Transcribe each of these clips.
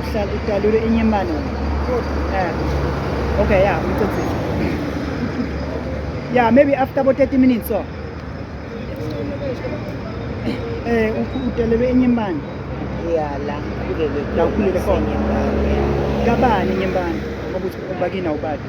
uhlala udalule inye imali eh okay yeah ngicedzile yeah maybe after about 30 minutes so eh udalule inye imali yeah la kulele la kulele khona kabani inye imali ngokuthi ubakina ubadi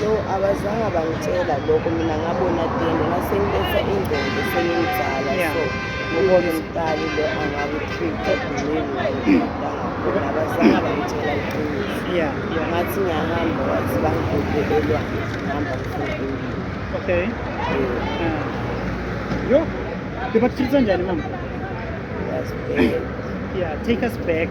No, abazange bangitshela lokho mina ngabona tende nasengibetha ingqondo sengimdala yeah. so ngibona umdali lo angakutrita delivery abazange bangitshela iqiniso yeah. ngathi ngiyahamba wathi bangibhubhelelwa ngihamba mfundini okay yeah. yo bebakutrita njani mama yeah take us back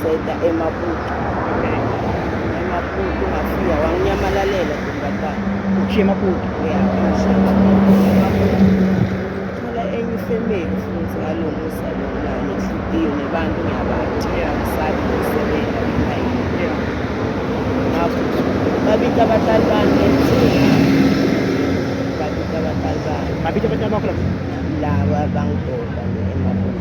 Seda emaputo. Emaputo ngafika wanginyamalalela ntombazana. Ushiye emaputo. Yeah, ngishiye emaputo. Thola enye ifemeli futhi ngalo musa lo nani inhliziyo nebantu ngiyabathi. Ngisabi ukusebenza ngihayi. Ngakho babita abadlali bami ngebusuku. Babita abadlali bami. Babita abadlali bakho labo? Laba bangidoda.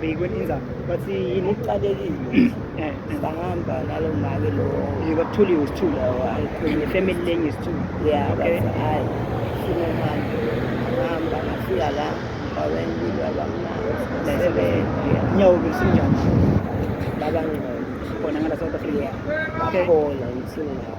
Beyikwe inzaba. Bathi yini iqalekile. Eh, sangihamba nalo mali lo. Yeka kuthuliwe isithulu. Ayikhona family lenye isithulu. Yeah, okay. Hayi. Simo manje. Ngihamba ngafika la. Baweni kulo abamnandi. Sebenza. Nyawo besinjani? Baba ngino. Khona ngala South Africa. Bakhola ngithini nawo.